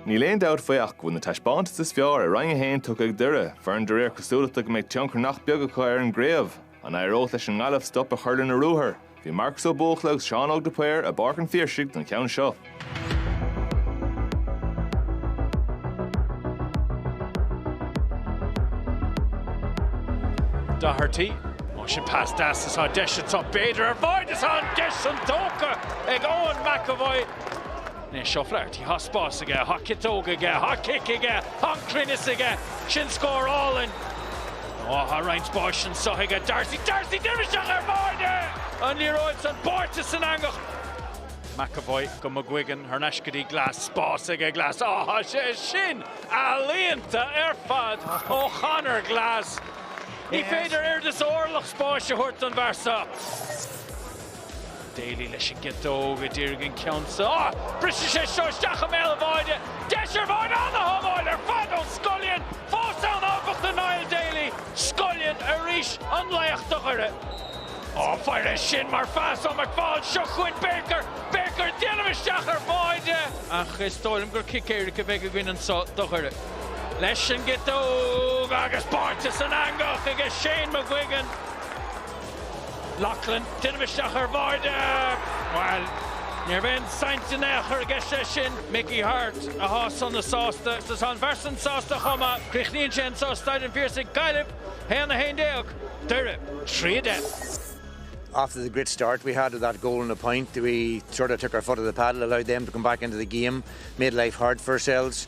Níl aon dabht faoi ach go bhfuil na taispeántais is fearr i Roinn 1 tugtha ag Doire, foireann de réir cosúlachta go mbeidh tionchar nach beag acu ar an gcraobh. An éireodh leis an nGaillimh stop a chur lena ruathar? Bhí Marcus Ó Buachalla agus Seán Óg de Paor i bPáirc an Phiarsaigh don cheann seo. Doherty. Á sin pas deas atá deis anseo b'fhéidir ar bháide is an deis san tógtha ag Eoin McEvoy. Anois O'Flaherty, tá spás aige, tá ciotóg aige, tá cic aige, tá an cruinneas aige, sin scór álainn. Ó tá roinnt spáis anseo aige Darcy, Darcy déanamh isteach ar bháide! An liathróid san báite san eangach. McEvoy go McGuigan, thar n-ais go dtí Glass, spás aige Glass, á tá sé sin ealaíonta ar fad ó Chonor Glass. Ní féidir oiread is orlach spáis a thabhairt don bhfear seo. Daly leis an gciotóg a dhírigh an ceann seo. Briseann sé seo isteach i mbéal an bháide. Deis ar bháide an-shábháil ar fad ó Scullion. Fós ann áfach do Niall Daly. Scullion arís an laoch do Dhoire. Á, féach air sin mar phas ó McFaul. Seo chugainn Baker. Baker ag déanamh isteach ar bháide. Ach is dóigh liom gur cic éirice a bheidh againn anseo do Dhoire. leis an gciotóg agus báite san eangach aige Shane McGuigan. Loughlin, déanamh isteach ar Bháide. Bhuel, ní raibh aon saint in aon chor aige sé sin, Mickey Harte, athá sona sásta, agus athá an fear san sásta chomh maith. Críochnaíonn sé anseo, Staid an Phiarsaigh, Gaillimh, 1, 11, Doire, 3, 10. After the great start we had with that goal and a point, we sort of took our foot off the pedal, allowed them to come back into the game, made life hard for ourselves.